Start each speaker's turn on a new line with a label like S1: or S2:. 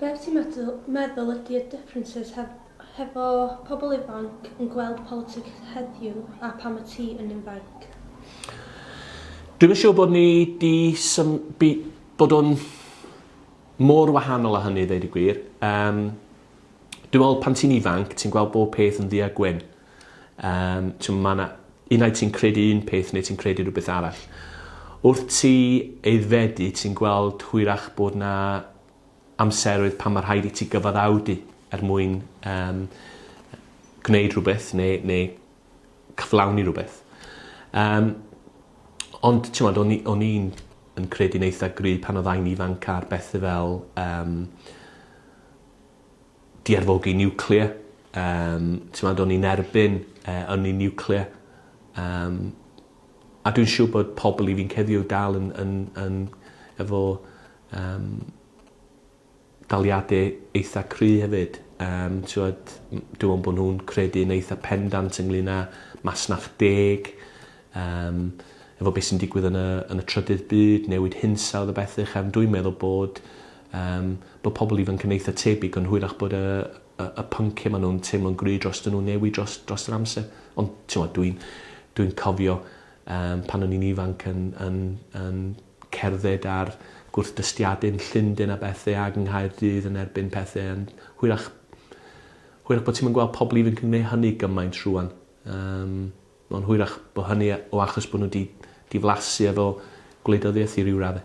S1: Be wyt ti'n meddwl ydy y differences hefo pobl ifanc yn gweld politics heddiw a phan wyt ti yn infainc? Dwi'm yn siwr bod ni 'di sym- by- bod o'n mor wahanol a hynny i ddeud y gwir. Yym. Dwi me'wl pan ti'n ifanc ti'n gweld bob peth yn ddu a gwyn. Yym t'm' ma' 'na... Unai ti'n credu un peth neu ti'n credu rhywbeth arall. Wrth ti aeddfedu ti'n gweld hwyrach bod 'na amseroedd pan ma' rhaid i ti gyfaddawdu er mwyn yym gwneud rhywbeth ne' ne' cyflawni rwbeth. Yym ond t'mod o'n i o'n i'n yn credu'n eitha gry' pan oddai'n ifanc ar bethe fel yym di-arfogi niwclear yym t'mod o'n i'n erbyn yy ynni niwclear yym a dwi'n siŵr bod pobol i fi'n ceddio dal yn yn yn efo yym daliade eitha cry hefyd yym t'wod m- dw yn bo' nhw'n credu'n eitha pendant ynglŷn â masnach deg yym efo be' sy'n digwydd yn y yn y trydydd byd newid hinsawdd a bethe chefn dwi'n meddwl bod Yym, bod pobl ifanc yn eitha tebyg ond hwyrach bod y y y pynciau maen nhw'n teimlo'n gry' drostyn nhw'n newid dros dros yr amser. Ond, timod, dwi'n dwi'n cofio yym pan o'n i'n ifanc yn yn yn cerdded ar gwrthdystiadau yn Llundain a bethe ag yng Nghaerdydd yn erbyn pethe yn hwyrach hwyrach bod ti'm yn gweld pobl ifanc yn gwneud hynny gymaint rwan. Yym, ond hwyrach bod hynny o achos bod nhw 'di diflasu efo gwleidyddiaeth i ryw radde.